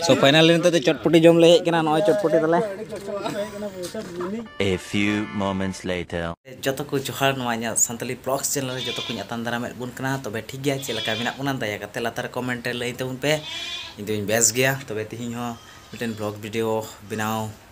ᱥᱚ ᱯᱷᱟᱭᱱᱟᱞ ᱱᱤᱛᱚᱜ ᱫᱚ ᱪᱚᱴᱯᱚᱴᱤ ᱡᱚᱢ ᱞᱮ ᱦᱮᱡ ᱠᱟᱱᱟ ᱱᱚᱜᱼᱚᱭ ᱪᱚᱴᱯᱚᱴᱤ ᱛᱟᱞᱮ A few moments later ᱡᱚᱛᱚ ᱠᱚ ᱡᱚᱦᱟᱨ ᱱᱚᱣᱟ ᱤᱧᱟᱹᱜ ᱥᱟᱱᱛᱟᱞᱤ ᱵᱞᱚᱜᱥ ᱪᱮᱱᱮᱞ ᱨᱮ ᱡᱚᱛᱚ ᱠᱚᱧ ᱟᱛᱟᱝ ᱫᱟᱨᱟᱢᱮᱫ ᱵᱚᱱ ᱠᱟᱱᱟ ᱛᱚᱵᱮ ᱴᱷᱤᱠ ᱜᱮᱭᱟ ᱪᱮᱫ ᱞᱮᱠᱟ ᱢᱮᱱᱟᱜ ᱵᱚᱱᱟ ᱫᱟᱭᱟ ᱠᱟᱛᱮ ᱞᱟᱛᱟᱨ ᱠᱚᱢᱮᱱᱴ ᱨᱮ ᱞᱟᱹᱭ ᱛᱟᱵᱚᱱ ᱯᱮ ᱤᱧ ᱫᱚᱧ ᱵᱮᱥ ᱜᱮᱭᱟ ᱛᱚᱵᱮ ᱛᱤᱦᱤᱧ ᱦᱚᱸ ᱢᱤᱫᱴᱮᱱ ᱵᱞᱚᱜ ᱵᱷᱤᱰᱤᱭᱳ ᱵᱮᱱᱟᱣ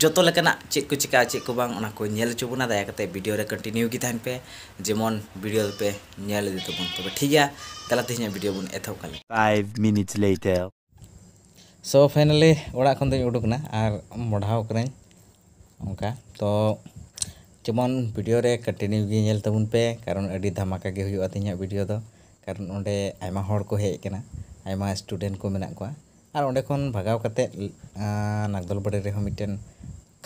ᱡᱚᱛᱚ ᱞᱮᱠᱟᱱᱟᱜ ᱪᱮᱫ ᱠᱚ ᱪᱤᱠᱟᱹᱜᱼᱟ ᱪᱮᱫ ᱠᱚ ᱵᱟᱝ ᱚᱱᱟ ᱠᱚ ᱧᱮᱞ ᱦᱚᱪᱚ ᱵᱚᱱᱟ ᱫᱟᱭᱟ ᱠᱟᱛᱮ ᱵᱷᱤᱰᱤᱭᱳ ᱨᱮ ᱠᱚᱱᱴᱤᱱᱤᱭᱩ ᱜᱮ ᱛᱟᱦᱮᱱ ᱯᱮ ᱡᱮᱢᱚᱱ ᱵᱷᱤᱰᱤᱭᱳ ᱫᱚᱯᱮ ᱧᱮᱞ ᱤᱫᱤ ᱛᱟᱵᱚᱱ ᱛᱚᱵᱮ ᱴᱷᱤᱠ ᱜᱮᱭᱟ ᱫᱮᱞᱟ ᱛᱮᱦᱮᱧᱟᱜ ᱵᱷᱤᱰᱤᱭᱳ ᱵᱚᱱ ᱮᱛᱚᱦᱚᱵ ᱠᱟᱜ ᱞᱮᱜᱮ 5 minutes later ᱥᱚ ᱯᱷᱟᱭᱱᱟᱞᱤ ᱚᱲᱟᱜ ᱠᱷᱚᱱ ᱫᱚᱧ ᱩᱰᱩᱠ ᱮᱱᱟ ᱟᱨ ᱢᱚᱰᱷᱟᱣ ᱠᱟᱹᱱᱟᱹᱧ ᱚᱱᱠᱟ ᱛᱚ ᱡᱮᱢᱚᱱ ᱵᱷᱤᱰᱤᱭᱳ ᱨᱮ ᱠᱚᱱᱴᱤᱱᱤᱭᱩ ᱜᱮ ᱧᱮᱞ ᱛᱟᱵᱚᱱ ᱯᱮ ᱠᱟᱨᱚᱱ ᱟᱹᱰᱤ ᱫᱷᱟᱢᱟᱠᱟ ᱜᱮ ᱦᱩᱭᱩᱜᱼᱟ ᱛᱮᱦᱮᱧᱟᱜ ᱵᱷᱤᱰᱤᱭᱳ ᱫᱚ ᱠᱟᱨᱚᱱ ᱚᱸᱰᱮ ᱟᱭᱢᱟ ᱦᱚᱲ ᱠᱚ ᱦᱮᱡ ᱟᱠᱟᱱᱟ ᱟᱭᱢᱟ ᱥᱴᱩᱰᱮᱱᱴ ᱠᱚ ᱢᱮᱱᱟᱜ ᱠᱚᱣᱟ ᱟᱨ ᱚᱸᱰᱮ ᱠᱷᱚᱱ ᱵᱷᱟᱜᱟᱣ ᱠᱟᱛᱮᱫ ᱱᱟᱜᱽᱫᱚᱞ ᱵᱟᱹᱲᱤ ᱨᱮᱦᱚᱸ ᱢᱤᱫᱴᱮᱱ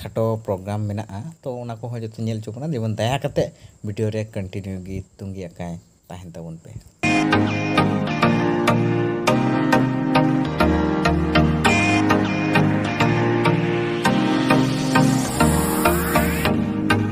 ᱠᱷᱟᱴᱚ ᱯᱨᱳᱜᱨᱟᱢ ᱢᱮᱱᱟᱜᱼᱟ ᱛᱚ ᱚᱱᱟ ᱠᱚᱦᱚᱸ ᱡᱚᱛᱚ ᱧᱮᱞ ᱦᱚᱪᱚ ᱵᱚᱱᱟ ᱡᱮᱢᱚᱱ ᱫᱟᱭᱟ ᱠᱟᱛᱮᱫ ᱵᱷᱤᱰᱤᱭᱳ ᱨᱮ ᱠᱚᱱᱴᱤᱱᱤᱭᱩ ᱜᱮ ᱛᱩᱸᱜᱤ ᱟᱠᱟᱭ ᱛᱟᱦᱮᱱ ᱛᱟᱵᱚᱱ ᱯᱮ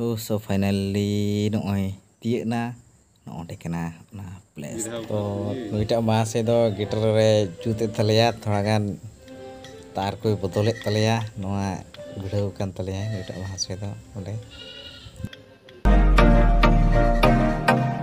ᱦᱳ ᱥᱳ ᱯᱷᱟᱭᱱᱟᱞᱤ ᱱᱚᱜᱼᱚᱭ ᱛᱤᱭᱟᱹᱜ ᱱᱟ ᱱᱚᱜᱼᱚᱸᱰᱮ ᱠᱟᱱᱟ ᱚᱱᱟ ᱯᱞᱮᱥ ᱛᱚ ᱱᱩᱭᱴᱟᱜ ᱢᱟᱥᱮ ᱫᱚ ᱜᱤᱴᱟᱨ ᱨᱮ ᱡᱩᱛᱮᱫ ᱛᱟᱞᱮᱭᱟ ᱛᱷᱚᱲᱟ ᱜᱟᱱ ᱛᱟᱨ ᱠᱚᱭ ᱵᱚᱫᱚᱞᱮᱫ ᱛᱟᱞᱮᱭᱟ ᱱᱚᱣᱟ ᱵᱷᱤᱲᱟᱹᱣ ᱠᱟᱱ ᱛᱟᱞᱮᱭᱟ ᱱᱩᱭᱴᱟᱜ ᱢᱟᱥᱮ ᱫᱚ ᱚᱸᱰᱮ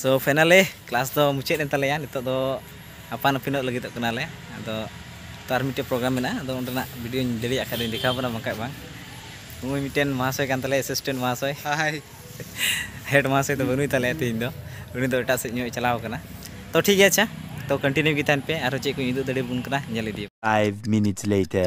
ᱥᱳ ᱯᱷᱟᱭᱱᱟᱞᱤ ᱠᱞᱟᱥ ᱫᱚ ᱢᱩᱪᱟᱹᱫ ᱮᱱ ᱛᱟᱞᱮᱭᱟ ᱱᱤᱛᱚᱜ ᱫᱚ ᱟᱯᱟᱱ ᱟᱹᱯᱤᱱᱚᱜ ᱞᱟᱹᱜᱤᱫᱚᱜ ᱠᱟᱱᱟᱞᱮ ᱟᱫᱚ ᱛᱚ ᱟᱨ ᱢᱤᱫᱴᱮᱱ ᱯᱨᱳᱜᱨᱟᱢ ᱢᱮᱱᱟᱜᱼᱟ ᱟᱫᱚ ᱚᱸᱰᱮᱱᱟᱜ ᱵᱷᱤᱰᱤᱭᱳᱧ ᱫᱟᱲᱮᱭᱟᱜ ᱠᱷᱟᱱ ᱫᱚᱧ ᱫᱮᱠᱷᱟᱣ ᱵᱚᱱᱟ ᱵᱟᱝᱠᱷᱟᱡ ᱵᱟᱝ ᱱᱩᱭ ᱢᱤᱫᱴᱮᱱ ᱢᱚᱦᱟᱥᱚᱭ ᱠᱟᱱ ᱛᱟᱞᱮᱭᱟ ᱮᱥᱤᱥᱴᱮᱱᱴ ᱢᱚᱦᱟᱥᱚᱭ ᱦᱟᱭ ᱦᱮᱰ ᱢᱚᱦᱟᱥᱚᱭ ᱫᱚ ᱵᱟᱹᱱᱩᱭ ᱛᱟᱞᱮᱭᱟ ᱛᱮᱦᱮᱧ ᱫᱚ ᱩᱱᱤ ᱫᱚ ᱮᱴᱟᱜ ᱥᱮᱫ ᱧᱚᱜ ᱪᱟᱞᱟᱣ ᱠᱟᱱᱟ ᱛᱚ ᱴᱷᱤᱠ ᱜᱮᱭᱟ ᱟᱪᱪᱷᱟ ᱛᱚ ᱠᱚᱱᱴᱤᱱᱤᱭᱩ ᱜᱮ ᱛᱟᱦᱮᱱ ᱯᱮ ᱟᱨᱦᱚᱸ ᱪᱮᱫ ᱠᱚᱧ ᱩᱫᱩᱜ ᱫᱟᱲᱮᱭᱟᱵᱚᱱ ᱠᱟᱱᱟ ᱧᱮᱞ ᱤᱫᱤ 5 minutes later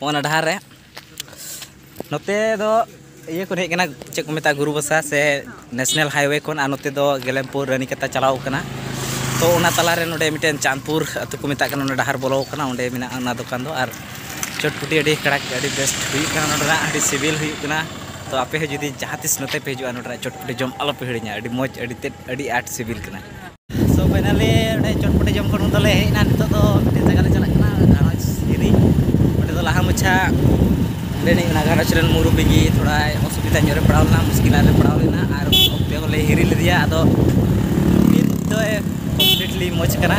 ᱚᱱᱟ ᱰᱟᱦᱟᱨ ᱨᱮ ᱱᱚᱛᱮ ᱫᱚ ᱤᱭᱟᱹ ᱠᱚ ᱦᱮᱡ ᱠᱟᱱᱟ ᱪᱮᱫ ᱠᱚ ᱢᱮᱛᱟᱜᱼᱟ ᱜᱩᱨᱩ ᱵᱟᱥᱟ ᱥᱮ ᱱᱮᱥᱱᱮᱞ ᱦᱟᱭᱚᱭᱮ ᱠᱷᱚᱱ ᱟᱨ ᱱᱚᱛᱮ ᱫᱚ ᱜᱮᱞᱮᱢᱯᱩᱨ ᱨᱟᱹᱱᱤᱠᱟᱛᱟ ᱪᱟᱞᱟᱣ ᱠᱟᱱᱟ ᱛᱚ ᱚᱱᱟ ᱛᱟᱞᱟ ᱨᱮ ᱱᱚᱰᱮ ᱢᱤᱫᱴᱮᱱ ᱪᱟᱸᱫᱽᱯᱩᱨ ᱟᱹᱛᱩ ᱠᱚ ᱢᱮᱛᱟᱜ ᱠᱟᱱᱟ ᱚᱱᱟ ᱰᱟᱦᱟᱨ ᱵᱚᱞᱚ ᱠᱟᱱᱟ ᱚᱸᱰᱮ ᱢᱮᱱᱟᱜᱼᱟ ᱚᱱᱟ ᱫᱚᱠᱟᱱ ᱫᱚ ᱟᱨ ᱪᱚᱴᱯᱩᱴᱤ ᱟᱹᱰᱤ ᱠᱟᱲᱟᱠ ᱟᱹᱰᱤ ᱵᱮᱥ ᱦᱩᱭᱩᱜ ᱠᱟᱱᱟ ᱱᱚᱰᱮᱱᱟᱜ ᱟᱹᱰᱤ ᱥᱤᱵᱤᱞ ᱦᱩᱭᱩᱜ ᱠᱟᱱᱟ ᱛᱚ ᱟᱯᱮ ᱦᱚᱸ ᱡᱩᱫᱤ ᱡᱟᱦᱟᱸ ᱛᱤᱥ ᱱᱚᱛᱮ ᱯᱮ ᱦᱤᱡᱩᱜᱼᱟ ᱱᱚᱰᱮᱱᱟᱜ ᱪᱚᱴᱯᱩᱴᱤ ᱡᱚᱢ ᱟᱞᱚ ᱯᱮ ᱦᱤᱲᱤᱧᱟ ᱟᱹᱰᱤ ᱢᱚᱡᱽ ᱟᱹᱰᱤ ᱛᱮᱫ ᱟᱹᱰᱤ ᱟᱸᱴ ᱥᱤᱵᱤᱞ ᱠᱟᱱᱟ ᱥᱚ ᱯᱷᱟᱭᱱᱟᱞᱤ ᱚᱸᱰᱮ ᱪᱚᱴᱯᱚᱴᱤ ᱡᱚᱢ ᱠᱷᱚᱱ ᱫᱚᱞᱮ ᱦᱮᱡ ᱮᱱᱟ ᱱᱤᱛᱚᱜ ᱫᱚ ᱢᱤᱫᱴᱮᱱ ᱡᱟᱭᱜᱟ ᱞᱮ ᱪᱟᱞᱟᱜ ᱠᱟᱱᱟ ᱜᱷᱟᱨᱚᱸᱡᱽ ᱦᱤᱨᱤ ᱚᱸᱰᱮ ᱫᱚ ᱞᱟᱦᱟ ᱢᱟᱪᱷᱟ ᱚᱸᱰᱮᱱᱤᱡ ᱚᱱᱟ ᱜᱷᱟᱨᱚᱸᱡᱽ ᱨᱮᱱ ᱢᱩᱨᱩᱵᱤ ᱜᱮ ᱛᱷᱚᱲᱟᱭ ᱚᱥᱩᱵᱤᱫᱟ ᱧᱚᱜ ᱨᱮ ᱯᱟᱲᱟᱣ ᱞᱮᱱᱟ ᱢᱩᱥᱠᱤᱞ ᱨᱮ ᱯᱟᱲᱟᱣ ᱞᱮᱱᱟ ᱟᱨ ᱚᱠᱛᱮ ᱦᱚᱸᱞᱮ ᱦᱤᱨᱤ ᱞᱮᱫᱮᱭᱟ ᱟᱫᱚ ᱱᱤᱛ ᱫᱚᱭ ᱠᱚᱢᱯᱞᱤᱴᱞᱤ ᱢᱚᱡᱽ ᱠᱟᱱᱟ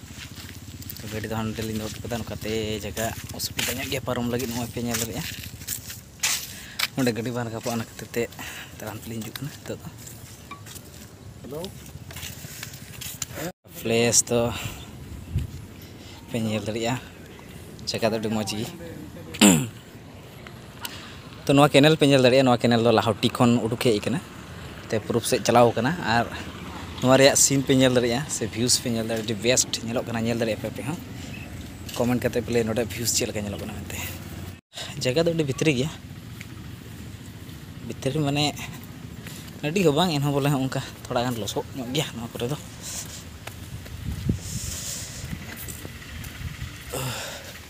ᱛᱚ ᱜᱟᱹᱰᱤ ᱫᱚ ᱦᱟᱸᱰᱮ ᱞᱤᱧ ᱫᱚᱦᱚ ᱦᱚᱴᱚ ᱠᱟᱫᱟ ᱱᱚᱝᱠᱟᱛᱮ ᱡᱟᱭᱜᱟ ᱚᱥᱩᱵᱤᱫᱟ ᱧᱚᱜ ᱜᱮᱭᱟ ᱯᱟᱨᱚᱢ ᱞᱟᱹᱜᱤᱫ ᱱᱚᱜᱼᱚᱭ ᱯᱮ ᱧᱮᱞ ᱫᱟᱲᱮᱭᱟᱜᱼᱟ ᱚᱸᱰᱮ ᱜᱟᱹᱰᱤ ᱵᱟᱝ ᱨᱟᱠᱟᱵᱚᱜᱼᱟ ᱚᱱᱟ ᱠᱷᱟᱹᱛᱤᱨ ᱛᱮ ᱛᱟᱲᱟᱢ ᱛᱮᱞᱤᱧ ᱦᱤᱡᱩᱜ ᱠᱟᱱᱟ ᱱᱤᱛᱚᱜ ᱫᱚ ᱦᱮᱞᱳ ᱯᱞᱮᱥ ᱫᱚ ᱯᱮ ᱧᱮᱞ ᱫᱟᱲᱮᱭᱟᱜᱼᱟ ᱡᱟᱭᱜᱟ ᱫᱚ ᱟᱹᱰᱤ ᱢᱚᱡᱽ ᱜᱮ ᱛᱚ ᱱᱚᱣᱟ ᱠᱮᱱᱮᱞ ᱯᱮ ᱧᱮᱞ ᱫᱟᱲᱮᱭᱟᱜᱼᱟ ᱱᱚᱣᱟ ᱠᱮᱱᱮᱞ ᱫᱚ ᱞᱟᱦᱚᱴᱤ ᱠᱷᱚᱱ ᱩᱰᱩᱠ ᱦᱮᱡ ᱟᱠᱟᱱᱟ ᱛᱮ ᱯᱩᱨᱩᱵ ᱥᱮᱫ ᱪᱟᱞᱟᱣ ᱟᱠᱟᱱᱟ ᱟᱨ ᱱᱚᱣᱟ ᱨᱮᱭᱟᱜ ᱥᱤᱱ ᱯᱮ ᱧᱮᱞ ᱫᱟᱲᱮᱭᱟᱜᱼᱟ ᱥᱮ ᱵᱷᱤᱭᱩᱥ ᱯᱮ ᱧᱮᱞ ᱫᱟᱲᱮᱭᱟᱜᱼᱟ ᱟᱹᱰᱤ ᱵᱮᱥᱴ ᱧᱮᱞᱚᱜ ᱠᱟᱱᱟ ᱧᱮᱞ ᱫᱟᱲᱮᱭᱟᱜᱼᱟ ᱯᱮ ᱟᱯᱮ ᱦᱚᱸ ᱠᱚᱢᱮᱱᱴ ᱠᱟᱛᱮᱫ ᱯᱮ ᱞᱟᱹᱭᱟ ᱱᱚᱰᱮ ᱵᱷᱤᱭᱩᱥ ᱪᱮᱫ ᱞᱮᱠᱟ ᱧᱮᱞᱚᱜ ᱠᱟᱱᱟ ᱢᱮᱱᱛᱮ ᱡᱟᱭᱜᱟ ᱫᱚ ᱟᱹᱰᱤ ᱵᱷᱤᱛᱨᱤ ᱜᱮᱭᱟ ᱵᱷᱤᱛᱨᱤ ᱢᱟᱱᱮ ᱟᱹᱰᱤ ᱦᱚᱸ ᱵᱟᱝ ᱮᱱᱦᱚᱸ ᱵᱚᱞᱮ ᱚᱱᱠᱟ ᱛᱷᱚᱲᱟ ᱜᱟᱱ ᱞᱚᱥᱚᱫ ᱧᱚᱜ ᱜᱮᱭᱟ ᱱᱚᱣᱟ ᱠᱚᱨᱮ ᱫᱚ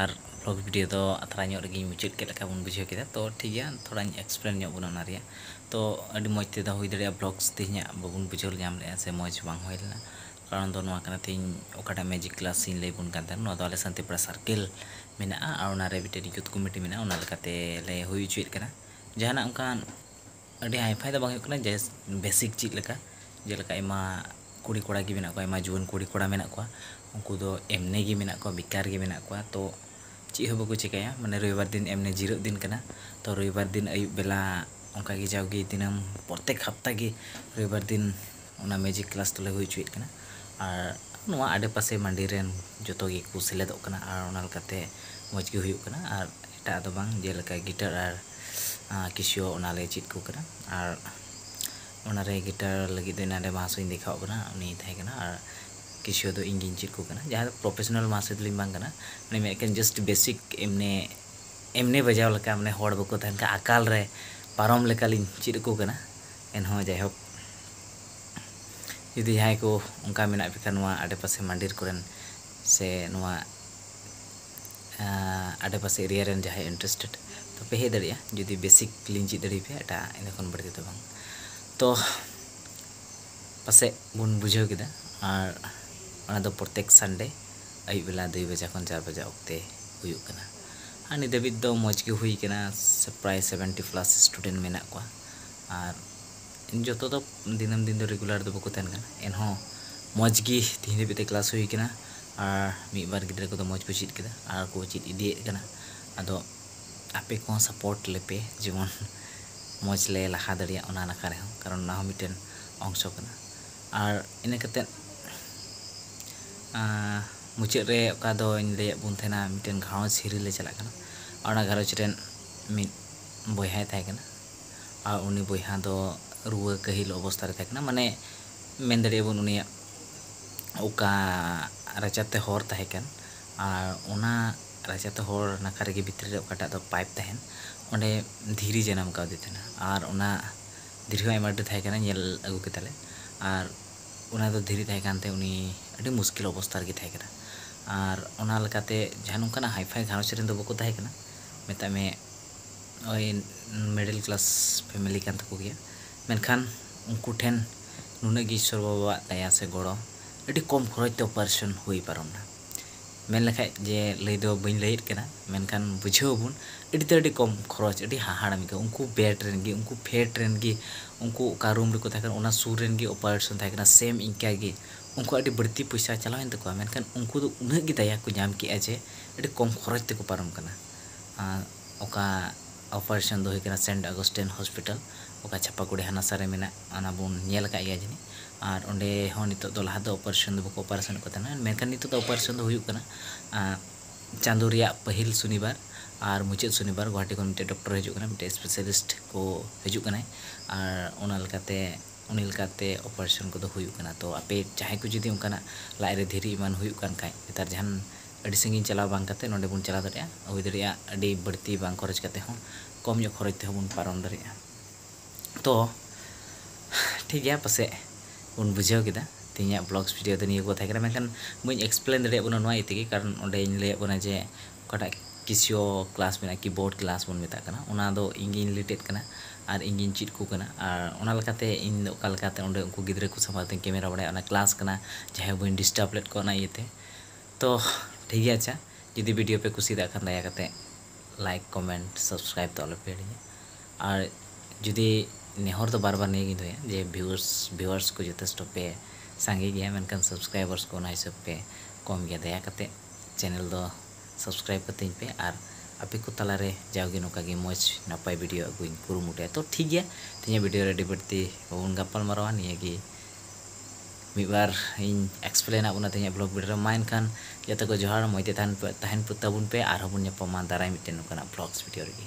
ᱟᱨ ᱵᱞᱚᱜ ᱵᱷᱤᱰᱤᱭᱳ ᱫᱚ ᱟᱛᱨᱟ ᱧᱚᱜ ᱨᱮᱜᱮᱧ ᱢᱩᱪᱟᱹᱫ ᱠᱮᱫ ᱞᱮᱠᱟ ᱵᱚᱱ ᱵᱩᱡᱷᱟᱹᱣ ᱠᱮᱫᱟ ᱛᱚ ᱴᱷᱤᱠ ᱜᱮᱭᱟ ᱛᱷᱚᱲᱟᱧ ᱮᱠᱥᱯᱞᱮᱱ ᱧᱚᱜ ᱵᱚᱱᱟ ᱚᱱᱟ ᱨᱮᱭᱟᱜ ᱛᱚ ᱟᱹᱰᱤ ᱢᱚᱡᱽ ᱛᱮᱫᱚ ᱦᱩᱭ ᱫᱟᱲᱮᱭᱟᱜᱼᱟ ᱵᱞᱚᱜᱽᱥ ᱛᱮᱦᱮᱧᱟᱜ ᱵᱟᱵᱚᱱ ᱵᱩᱡᱷᱟᱹᱣ ᱧᱟᱢ ᱞᱮᱫᱼᱟ ᱥᱮ ᱢᱚᱡᱽ ᱵᱟᱝ ᱦᱩᱭ ᱞᱮᱱᱟ ᱠᱟᱨᱚᱱ ᱫᱚ ᱱᱚᱣᱟ ᱠᱟᱱᱟ ᱛᱮᱦᱮᱧ ᱚᱠᱟᱴᱟᱜ ᱢᱮᱡᱤᱠ ᱠᱞᱟᱥ ᱤᱧ ᱞᱟᱹᱭ ᱟᱵᱚᱱ ᱠᱟᱱ ᱛᱟᱦᱮᱱ ᱱᱚᱣᱟ ᱫᱚ ᱟᱞᱮ ᱥᱟᱱᱛᱤᱯᱩᱨᱟ ᱥᱟᱨᱠᱮᱞ ᱢᱮᱱᱟᱜᱼᱟ ᱟᱨ ᱚᱱᱟ ᱨᱮ ᱢᱤᱫᱴᱮᱱ ᱭᱩᱛᱷ ᱠᱚᱢᱤᱴᱤ ᱢᱮᱱᱟᱜᱼᱟ ᱚᱱᱟ ᱞᱮᱠᱟᱛᱮ ᱞᱮ ᱦᱩᱭ ᱦᱚᱪᱚᱭᱮᱫ ᱠᱟᱱᱟ ᱡᱟᱦᱟᱱᱟᱜ ᱚᱱᱠᱟᱱ ᱟᱹᱰᱤ ᱦᱟᱭᱯᱷᱟᱭ ᱫᱚ ᱵᱟᱝ ᱦᱩᱭᱩᱜ ᱠᱟᱱᱟ ᱡᱟᱥᱴ ᱵᱮᱥᱤᱠ ᱪᱮᱫ ᱞᱮᱠᱟ ᱡᱮᱞᱮᱠᱟ ᱟᱭᱢᱟ ᱠᱩᱲᱤ ᱠᱚᱲᱟ ᱜᱮ ᱢᱮᱱᱟᱜ ᱠᱚᱣᱟ ᱟᱭᱢᱟ ᱡᱩᱣᱟᱹᱱ ᱠᱩᱲᱤ ᱠᱚᱲᱟ ᱢᱮᱱᱟᱜ ᱠᱚᱣᱟ ᱩᱱᱠᱩ ᱫᱚ ᱮᱢᱱᱤ ᱜᱮ ᱢᱮᱱᱟᱜ ᱠᱚᱣᱟ ᱵᱮᱠᱟᱨ ᱜᱮ ᱢᱮᱱᱟᱜ ᱠᱚᱣᱟ ᱛᱚ ᱪᱮᱫ ᱦᱚᱸ ᱵᱟᱠᱚ ᱪᱤᱠᱟᱹᱭᱟ ᱢᱟᱱᱮ ᱨᱚᱵᱤᱵᱟᱨ ᱫᱤᱱ ᱮᱢᱱᱤ ᱡᱤᱨᱟᱹᱜ ᱫᱤᱱ ᱠᱟᱱᱟ ᱛᱚ ᱨᱚᱵᱤᱵᱟᱨ ᱫᱤᱱ ᱟᱹᱭᱩᱵ ᱵᱮᱞᱟ ᱚᱱᱠᱟ ᱜᱮ ᱡᱟᱣᱜᱮ ᱫᱤᱱᱟᱹᱢ ᱯᱨᱚᱛᱮᱠ ᱦᱟᱯᱛᱟ ᱜᱮ ᱨᱚᱵᱤᱵᱟᱨ ᱫᱤᱱ ᱚᱱᱟ ᱢᱤᱭᱩᱡᱤᱠ ᱠᱞᱟᱥ ᱫᱚᱞᱮ ᱦᱩᱭ ᱦᱚᱪᱚᱭᱮᱫ ᱠᱟᱱᱟ ᱟᱨ ᱱᱚᱣᱟ ᱟᱰᱮᱯᱟᱥᱮ ᱢᱟᱰᱮ ᱨᱮᱱ ᱡᱚᱛᱚ ᱜᱮᱠᱚ ᱥᱮᱞᱮᱫᱚᱜ ᱠᱟᱱᱟ ᱟᱨ ᱚᱱᱟ ᱞᱮᱠᱟᱛᱮ ᱢᱚᱡᱽ ᱜᱮ ᱦᱩᱭᱩᱜ ᱠᱟᱱᱟ ᱟᱨ ᱮᱴᱟᱜ ᱫᱚ ᱵᱟᱝ ᱡᱮᱞᱮᱠᱟ ᱜᱤᱴᱟᱨ ᱟᱨ ᱠᱤᱥᱤᱭᱳ ᱚᱱᱟ ᱞᱮ ᱪᱮᱫ ᱟᱠᱚ ᱠᱟᱱᱟ ᱟᱨ ᱚᱱᱟ ᱨᱮ ᱜᱤᱴᱟᱨ ᱞᱟᱹᱜᱤᱫ ᱫᱚ ᱮᱱᱟᱱ ᱨᱮ ᱢᱟᱦᱟᱥᱚᱭᱤᱧ ᱫᱮᱠᱷᱟᱣ ᱟᱫ ᱵᱮᱱᱟ ᱩᱱᱤ ᱛᱟᱦᱮᱸ ᱠᱟᱱᱟ ᱟᱨ ᱠᱤᱥᱤᱭᱳ ᱫᱚ ᱤᱧ ᱜᱤᱧ ᱪᱮᱫ ᱟᱠᱚ ᱠᱟᱱᱟ ᱡᱟᱦᱟᱸᱭ ᱫᱚ ᱯᱨᱚᱯᱷᱮᱥᱚᱱᱟᱞ ᱢᱟᱦᱟᱥᱚᱭ ᱫᱚ ᱵᱟᱝ ᱠᱟᱱᱟ ᱩᱱᱤ ᱢᱮᱱᱮᱫ ᱠᱟᱱ ᱡᱟᱥᱴ ᱵᱮᱥᱤᱠ ᱮᱢᱱᱤ ᱮᱢᱱᱤ ᱵᱟᱡᱟᱣ ᱞᱮᱠᱟ ᱢᱟᱱᱮ ᱦᱚᱲ ᱵᱟᱠᱚ ᱛᱟᱦᱮᱱ ᱠᱷᱟᱱ ᱟᱠᱟᱞ ᱨᱮ ᱯᱟᱨᱚᱢ ᱞᱮᱠᱟ ᱞᱤᱧ ᱪᱮᱫ ᱟᱠᱚ ᱠᱟᱱᱟ ᱮᱱᱦᱚᱸ ᱡᱟᱭᱦᱳᱠ ᱡᱩᱫᱤ ᱡᱟᱦᱟᱸᱭ ᱠᱚ ᱚᱱᱠᱟ ᱢᱮᱱᱟᱜ ᱯᱮ ᱠᱷᱟᱱ ᱱᱚᱣᱟ ᱟᱰᱮ ᱯᱟᱥᱮ ᱢᱟᱱᱰᱤᱨ ᱠᱚᱨᱮᱱ ᱥᱮ ᱱᱚᱣᱟ ᱟᱰᱮ ᱯᱟᱥᱮ ᱮᱨᱤᱭᱟ ᱨᱮᱱ ᱡᱟᱦᱟᱸᱭ ᱤᱱᱴᱨᱮᱥᱴᱮᱰ ᱛᱚ ᱯᱮ ᱦᱮᱡ ᱫᱟᱲᱮᱭᱟᱜᱼᱟ ᱡᱩᱫᱤ ᱵᱮᱥᱤᱠ ᱞᱤᱧ ᱪᱮᱫ ᱫᱟᱲᱮ ᱟᱯᱮᱭᱟ ᱮᱴᱟᱜ ᱤᱱᱟᱹ ᱠᱷᱚᱱ ᱵᱟᱹᱲᱛᱤ ᱫᱚ ᱵᱟᱝ ᱛᱚ ᱯᱟᱥᱮᱡ ᱵᱚᱱ ᱵᱩᱡᱷᱟᱹᱣ ᱠᱮᱫᱟ ᱟᱨ ᱚᱱᱟ ᱫᱚ ᱯᱨᱚᱛᱮᱠ ᱥᱟᱱᱰᱮ ᱟᱹᱭᱩᱵ ᱵᱮᱞᱟ ᱫᱩᱭ ᱵᱟᱡᱟ ᱠᱷᱚᱱ ᱪᱟᱨ ᱵᱟᱡᱟ ᱚᱠᱛᱮ ᱦᱩᱭᱩᱜ ᱠᱟᱱᱟ ᱟᱨ ᱱᱤᱛ ᱫᱷᱟᱹᱵᱤᱡ ᱫᱚ ᱢᱚᱡᱽ ᱜᱮ ᱦᱩᱭ ᱠᱟᱱᱟ ᱯᱨᱟᱭ ᱥᱮᱵᱷᱮᱱᱴᱤ ᱯᱞᱟᱥ ᱥᱴᱩᱰᱮᱱᱴ ᱢᱮᱱᱟᱜ ᱠᱚᱣᱟ ᱟᱨ ᱡᱚᱛᱚ ᱫᱚ ᱫᱤᱱᱟᱹᱢ ᱫᱤᱱ ᱫᱚ ᱨᱮᱜᱩᱞᱟᱨ ᱫᱚ ᱵᱟᱠᱚ ᱛᱟᱦᱮᱱ ᱠᱟᱱᱟ ᱮᱱᱦᱚᱸ ᱢᱚᱡᱽ ᱜᱮ ᱛᱮᱦᱮᱧ ᱫᱷᱟᱹᱵᱤᱡ ᱛᱮ ᱠᱞᱟᱥ ᱦᱩᱭ ᱠᱟᱱᱟ ᱟᱨ ᱢᱤᱫ ᱵᱟᱨ ᱜᱤᱫᱽᱨᱟᱹ ᱠᱚᱫᱚ ᱢᱚᱡᱽ ᱠᱚ ᱪᱮᱫ ᱠᱮᱫᱟ ᱟᱨ ᱠᱚ ᱪᱮᱫ ᱤᱫᱤᱭᱮᱫ ᱠᱟᱱᱟ ᱟᱫᱚ ᱟᱯᱮ ᱠᱚᱦᱚᱸ ᱥᱟᱯᱳᱨᱴ ᱞᱮᱯᱮ ᱡᱮᱢᱚᱱ ᱢᱚᱡᱽ ᱞᱮ ᱞᱟᱦᱟ ᱫᱟᱲᱮᱭᱟᱜ ᱚᱱᱟ ᱱᱟᱠᱷᱟ ᱨᱮᱦᱚᱸ ᱠᱟᱨᱚᱱ ᱚᱱᱟ ᱦᱚᱸ ᱢᱤᱫᱴᱮᱱ ᱚᱝᱥᱚ ᱠᱟᱱᱟ ᱟᱨ ᱤᱱᱟᱹ ᱠᱟᱛᱮ ᱢᱩᱪᱟᱹᱫ ᱨᱮ ᱚᱠᱟ ᱫᱚᱧ ᱞᱟᱹᱭᱟᱫ ᱵᱚᱱ ᱛᱟᱦᱮᱱᱟ ᱢᱤᱫᱴᱮᱱ ᱜᱷᱟᱨᱚᱸᱡᱽ ᱦᱤᱨᱤ ᱞᱮ ᱪᱟᱞᱟᱜ ᱠᱟᱱᱟ ᱟᱨ ᱚᱱᱟ ᱜᱷᱟᱨᱚᱸᱡᱽ ᱨᱮᱱ ᱢᱤᱫ ᱵᱚᱭᱦᱟᱭ ᱛᱟᱦᱮᱸ ᱠᱟᱱᱟ ᱟᱨ ᱩᱱᱤ ᱵᱚᱭᱦᱟ ᱫᱚ ᱨᱩᱣᱟᱹ ᱠᱟᱹᱦᱤᱞ ᱚᱵᱚᱥᱛᱟ ᱨᱮ ᱛᱟᱦᱮᱸ ᱠᱟᱱᱟ ᱢᱟᱱᱮ ᱢᱮᱱ ᱫᱟᱲᱮᱭᱟᱜ ᱟᱵᱚᱱ ᱩᱱᱤᱭᱟᱜ ᱚᱠᱟ ᱨᱟᱪᱟ ᱛᱮ ᱦᱚᱨ ᱛᱟᱦᱮᱸ ᱠᱟᱱ ᱟᱨ ᱚᱱᱟ ᱨᱟᱪᱟ ᱛᱮ ᱦᱚᱨ ᱱᱟᱠᱷᱟ ᱨᱮᱜᱮ ᱵᱷᱤᱛᱨᱤ ᱨᱮ ᱚᱠᱟᱴᱟᱜ ᱫᱚ ᱯᱟᱭᱤᱯ ᱛᱟᱦᱮᱱ ᱚᱸᱰᱮ ᱫᱷᱤᱨᱤ ᱡᱟᱱᱟᱢ ᱠᱟᱣᱫᱮ ᱛᱟᱦᱮᱱᱟ ᱟᱨ ᱚᱱᱟ ᱫᱷᱤᱨᱤ ᱦᱚᱸ ᱟᱭᱢᱟ ᱰᱷᱮᱨ ᱛᱟᱦᱮᱸ ᱠᱟᱱᱟ ᱧᱮᱞ ᱟᱹᱜᱩ ᱠᱮᱫᱟᱞᱮ ᱟᱨ ᱚᱱᱟ ᱫᱚ ᱫᱷᱤᱨᱤ ᱛᱟᱦᱮᱸ ᱠᱟᱱᱛᱮ ᱩᱱᱤ ᱟᱹᱰᱤ ᱢᱩᱥᱠᱤᱞ ᱚᱵᱚᱥᱛᱟ ᱨᱮᱜᱮ ᱛᱟᱦᱮᱸ ᱠᱟᱱᱟ ᱟᱨ ᱚᱱᱟ ᱞᱮᱠᱟᱛᱮ ᱡᱟᱦᱟᱸ ᱱᱚᱝᱠᱟᱱᱟᱜ ᱦᱟᱭᱯᱷᱟᱭ ᱜᱷᱟᱨᱚᱸᱡᱽ ᱨᱮᱱ ᱫᱚ ᱵᱟᱠᱚ ᱛᱟᱦᱮᱸ ᱠᱟᱱᱟ ᱢᱮᱛᱟᱜ ᱢᱮ ᱳᱭ ᱢᱤᱰᱤᱞ ᱠᱞᱟᱥ ᱯᱷᱮᱢᱮᱞᱤ ᱠᱟᱱ ᱛᱟᱠᱚ ᱜᱮᱭᱟ ᱢᱮᱱᱠᱷᱟᱱ ᱩᱱᱠᱩ ᱴᱷᱮᱱ ᱱᱩᱱᱟᱹᱜ ᱜᱮ ᱤᱥᱥᱚᱨ ᱵᱟᱵᱟᱣᱟᱜ ᱫᱟᱭᱟ ᱥᱮ ᱜᱚᱲᱚ ᱟᱹᱰᱤ ᱠᱚᱢ ᱠᱷᱚᱨᱚᱪ ᱛᱮ ᱚᱯᱟᱨᱮᱥᱚᱱ ᱦᱩᱭ ᱯᱟᱨᱚᱢ ᱮᱱᱟ ᱢᱮᱱ ᱞᱮᱠᱷᱟᱱ ᱡᱮ ᱞᱟᱹᱭ ᱫᱚ ᱵᱟᱹᱧ ᱞᱟᱹᱭᱮᱫ ᱠᱟᱱᱟ ᱢᱮᱱᱠᱷᱟᱱ ᱵᱩᱡᱷᱟᱹᱣ ᱟᱵᱚᱱ ᱟᱹᱰᱤ ᱛᱮᱫ ᱟᱹᱰᱤ ᱠᱚᱢ ᱠᱷᱚᱨᱚᱪ ᱟᱹᱰᱤ ᱦᱟᱦᱟᱲᱟ ᱜᱮ ᱩᱱᱠᱩ ᱵᱮᱰ ᱨᱮᱱ ᱜᱮ ᱩᱱᱠᱩ ᱯᱷᱮᱰ ᱨᱮᱱ ᱜᱮ ᱩᱱᱠᱩ ᱚᱠᱟ ᱨᱩᱢ ᱨᱮᱠᱚ ᱛᱟᱦᱮᱸ ᱠᱟᱱᱟ ᱚᱱᱟ ᱥᱩᱨ ᱨᱮᱱ ᱜᱮ ᱚᱯᱟᱨᱮᱥᱚᱱ ᱛᱟᱦᱮᱸ ᱠᱟᱱᱟ ᱥᱮᱢ ᱤᱱᱠᱟᱹ ᱜᱮ ᱩᱱᱠᱩᱣᱟᱜ ᱟᱹᱰᱤ ᱵᱟᱹᱲᱛᱤ ᱯᱚᱭᱥᱟ ᱪᱟᱞᱟᱣᱮᱱ ᱛᱟᱠᱚᱣᱟ ᱢᱮᱱᱠᱷᱟᱱ ᱩᱱᱠᱩ ᱫᱚ ᱩᱱᱟᱹᱜ ᱜᱮ ᱫᱟᱭᱟ ᱠᱚ ᱧᱟᱢ ᱠᱮᱫᱼᱟ ᱡᱮ ᱟᱹᱰᱤ ᱠᱚᱢ ᱠᱷᱚᱨᱚᱪ ᱛᱮᱠᱚ ᱯᱟᱨᱚᱢ ᱟᱠᱟᱱᱟ ᱟᱨ ᱚᱠᱟ ᱚᱯᱟᱨᱮᱥᱚᱱ ᱫᱚ ᱦᱩᱭᱩᱜ ᱠᱟᱱᱟ ᱥᱮᱱᱴ ᱟᱜᱚᱥᱴᱮᱱ ᱦᱚᱥᱯᱤᱴᱟᱞ ᱚᱠᱟ ᱪᱷᱟᱯᱟᱜᱩᱲᱤ ᱦᱟᱱᱟᱥᱟ ᱨᱮ ᱢᱮᱱᱟᱜ ᱚᱱᱟ ᱵᱚᱱ ᱧᱮᱞ ᱟᱠᱟᱫ ᱜᱮᱭᱟ ᱡᱟᱹᱱᱤᱡ ᱟᱨ ᱚᱸᱰᱮ ᱦᱚᱸ ᱱᱤᱛᱚᱜ ᱫᱚ ᱞᱟᱦᱟ ᱫᱚ ᱚᱯᱟᱨᱮᱥᱚᱱ ᱫᱚ ᱵᱟᱠᱚ ᱚᱯᱟᱨᱮᱥᱚᱱᱮᱫ ᱠᱚ ᱛᱟᱦᱮᱱᱟ ᱢᱮᱱᱠᱷᱟᱱ ᱱᱤᱛᱚᱜ ᱫᱚ ᱚᱯᱟᱨᱮᱥᱚᱱ ᱫᱚ ᱦᱩᱭᱩᱜ ᱠᱟᱱᱟ ᱪᱟᱸᱫᱚ ᱨᱮᱭᱟᱜ ᱯᱟᱹᱦᱤᱞ ᱥᱚᱱᱤᱵᱟᱨ ᱟᱨ ᱢᱩᱪᱟᱹᱫ ᱥᱚᱱᱤᱵᱟᱨ ᱜᱳᱦᱟᱴᱤ ᱠᱷᱚᱱ ᱢᱤᱫᱴᱮᱱ ᱰᱚᱠᱴᱚᱨᱮ ᱦᱤᱡᱩᱜ ᱠᱟᱱᱟ ᱢᱤᱫᱴᱮᱱ ᱥᱯᱮᱥᱟᱞᱤᱥᱴ ᱠᱚ ᱦᱤᱡᱩᱜ ᱠᱟᱱᱟᱭ ᱟᱨ ᱚᱱᱟ ᱞᱮᱠᱟᱛᱮ ᱩᱱᱤ ᱞᱮᱠᱟᱛᱮ ᱚᱯᱟᱨᱮᱥᱚᱱ ᱠᱚᱫᱚ ᱦᱩᱭᱩᱜ ᱠᱟᱱᱟ ᱛᱳ ᱟᱯᱮ ᱡᱟᱦᱟᱸᱭ ᱠᱚ ᱡᱩᱫᱤ ᱚᱱᱠᱟᱱᱟᱜ ᱞᱟᱡ ᱨᱮ ᱫᱷᱤᱨᱤ ᱮᱢᱟᱱ ᱦᱩᱭᱩᱜ ᱠᱟᱱ ᱠᱷᱟᱡ ᱱᱮᱛᱟᱨ ᱡᱟᱦᱟᱱ ᱟᱹᱰᱤ ᱥᱟᱺᱜᱤᱧ ᱪᱟᱞᱟᱣ ᱵᱟᱝ ᱠᱟᱛᱮ ᱱᱚᱸᱰᱮ ᱵᱚᱱ ᱪᱟᱞᱟᱣ ᱫᱟᱲᱮᱭᱟᱜᱼᱟ᱾ ᱦᱩᱭ ᱫᱟᱲᱮᱭᱟᱜᱼᱟ ᱟᱹᱰᱤ ᱵᱟᱹᱲᱛᱤ ᱵᱟᱝ ᱠᱷᱚᱨᱚᱪ ᱠᱟᱛᱮ ᱦᱚᱸ ᱠᱚᱢ ᱧᱚᱜ ᱠᱷᱚᱨᱚᱪ ᱛᱮᱦᱚᱸ ᱵᱚᱱ ᱯᱟᱨᱚᱢ ᱫᱟᱲᱮᱭᱟᱜᱼᱟ᱾ ᱛᱚ ᱴᱷᱤᱠ ᱜᱮᱭᱟ ᱯᱟᱥᱮᱡ ᱵᱚᱱ ᱵᱩᱡᱷᱟᱹᱣ ᱠᱮᱫᱟ᱾ ᱛᱮᱦᱮᱧᱟᱜ ᱵᱞᱚᱜᱽᱥ ᱵᱷᱤᱰᱤᱭᱳ ᱫᱚ ᱱᱤᱭᱟᱹ ᱠᱚ ᱛᱟᱦᱮᱸ ᱠᱟᱱᱟ᱾ ᱢᱮᱱᱠᱷᱟᱱ ᱵᱟᱹᱧ ᱮᱠᱥᱯᱞᱮᱱ ᱫᱟᱲᱮᱭᱟᱜ ᱵᱚᱱᱟ ᱱᱚᱣᱟ ᱤᱭᱟᱹ ᱛᱮᱜᱮ ᱠᱟᱨᱚᱱ ᱚᱸᱰᱮᱧ ᱞᱟᱹᱭᱟᱫ ᱵᱚᱱᱟ ᱡᱮ ᱚᱠᱟᱴᱟᱜ ᱠᱤᱥᱤᱭᱳ ᱠᱞᱟᱥ ᱢᱮᱱᱟᱜᱼᱟ ᱠᱤᱵᱳᱨᱰ ᱠᱞᱟᱥ ᱵᱚᱱ ᱢᱮᱛᱟᱜ ᱠᱟᱱᱟ ᱚᱱᱟ ᱫᱚ ᱤᱧ ᱜᱤᱧ ᱞᱤᱰ ᱮᱫ ᱠᱟᱱᱟ ᱟᱨ ᱤᱧ ᱜᱤᱧ ᱪᱮᱫ ᱟᱠᱚ ᱠᱟᱱᱟ ᱟᱨ ᱚᱱᱟ ᱞᱮᱠᱟᱛᱮ ᱤᱧ ᱫᱚ ᱚᱠᱟ ᱞᱮᱠᱟᱛᱮ ᱚᱸᱰᱮ ᱩᱱᱠᱩ ᱜᱤᱫᱽᱨᱟᱹ ᱠᱚ ᱥᱟᱢᱟᱝ ᱨᱮᱫᱚᱧ ᱠᱮᱢᱮᱨᱟ ᱵᱟᱲᱟᱭᱟ ᱚᱱᱟ ᱠᱞᱟᱥ ᱠᱟᱱᱟ᱾ ᱡᱟᱦᱟᱸᱭ ᱵᱟᱹᱧ ᱰᱤᱥᱴᱟᱵᱽ ᱞᱮᱫ ᱠᱚᱣᱟ ᱚᱱᱟ ᱤᱭᱟᱹᱛᱮ᱾ ᱛᱚ ᱴᱷᱤᱠ ᱜᱮᱭᱟ ᱟᱪᱪᱷᱟ ᱡᱩᱫᱤ ᱵᱷᱤᱰᱤᱭᱳ ᱯᱮ ᱠᱩᱥᱤᱭᱟᱫᱟ ᱠᱷᱟᱱ ᱫᱟᱭᱟ ᱠᱟᱛᱮ ᱞᱟᱭᱤᱠ ᱠᱚᱢᱮᱱᱴ ᱥᱟᱵᱥᱠᱨᱟᱭᱤᱵ ᱫᱚ ᱟᱞᱚᱯᱮ ᱦᱤᱲᱤᱧᱟ ᱟᱨ ᱡᱩᱫᱤ ᱱᱮᱦᱚᱨ ᱫᱚ ᱵᱟᱨ ᱵᱟᱨ ᱱᱤᱭᱟᱹ ᱜᱤᱧ ᱫᱚᱦᱚᱭᱟ ᱡᱮ ᱵᱷᱤᱣᱟᱨᱥ ᱵᱷᱤᱣᱟᱨᱥ ᱠᱚ ᱡᱚᱛᱷᱮᱥᱴᱚ ᱯᱮ ᱥᱟᱸᱜᱮ ᱜᱮᱭᱟ ᱢᱮᱱᱠᱷᱟᱱ ᱥᱟᱵᱥᱠᱨᱟᱭᱵᱟᱨᱥ ᱠᱚ ᱚᱱᱟ ᱦᱤᱥᱟᱹᱵ ᱯᱮ ᱠᱚᱢ ᱜᱮᱭᱟ ᱫᱟᱭᱟ ᱠᱟᱛᱮ ᱪᱮᱱᱮᱞ ᱫᱚ ᱥᱟᱵᱥᱠᱨᱟᱭᱤᱵ ᱠᱟᱹᱛᱤᱧ ᱯᱮ ᱟᱨ ᱟᱯᱮ ᱠᱚ ᱛᱟᱞᱟ ᱨᱮ ᱡᱟᱣ ᱜᱮ ᱱᱚᱝᱠᱟ ᱜᱮ ᱢᱚᱡᱽ ᱱᱟᱯᱟᱭ ᱵᱷᱤᱰᱤᱭᱳ ᱟᱹᱜᱩᱧ ᱠᱩᱨᱩᱢᱩᱴᱩᱭᱟ ᱛᱚ ᱴᱷᱤᱠ ᱜᱮᱭᱟ ᱛᱮᱦᱮᱧᱟᱜ ᱵᱷᱤᱰᱤᱭᱳ ᱨᱮ ᱟᱹᱰᱤ ᱵᱟᱹᱲᱛᱤ ᱵᱟᱵᱚᱱ ᱜᱟᱯᱟᱞ ᱢᱟᱨᱟᱣᱟ ᱱᱤᱭᱟᱹ ᱜᱮ ᱢᱤᱫ ᱵᱟᱨ ᱤᱧ ᱮᱠᱥᱯᱞᱮᱱ ᱟᱫ ᱵᱚᱱᱟ ᱛᱮᱦᱮᱧᱟᱜ ᱵᱞᱚᱜ ᱵᱷᱤᱰᱤᱭᱳ ᱨᱮ ᱢᱟ ᱮᱱᱠᱷᱟᱱ ᱡᱚᱛᱚ ᱠᱚ ᱡᱚᱦᱟᱨ ᱢᱚᱡᱽ ᱛᱮ ᱛᱟᱦᱮᱱ ᱯᱮ ᱛᱟᱦᱮᱱ ᱯᱮ ᱛᱟᱵᱚᱱ ᱯᱮ ᱟᱨᱦᱚᱸ ᱵᱚᱱ ᱧᱟᱯᱟᱢᱟ ᱫᱟᱨᱟᱭ ᱢᱤᱫᱴᱮᱱ ᱱᱚᱝᱠᱟᱱᱟᱜ ᱵᱞᱚᱜᱥ ᱵᱷᱤᱰᱤᱭᱳ ᱨᱮᱜᱮ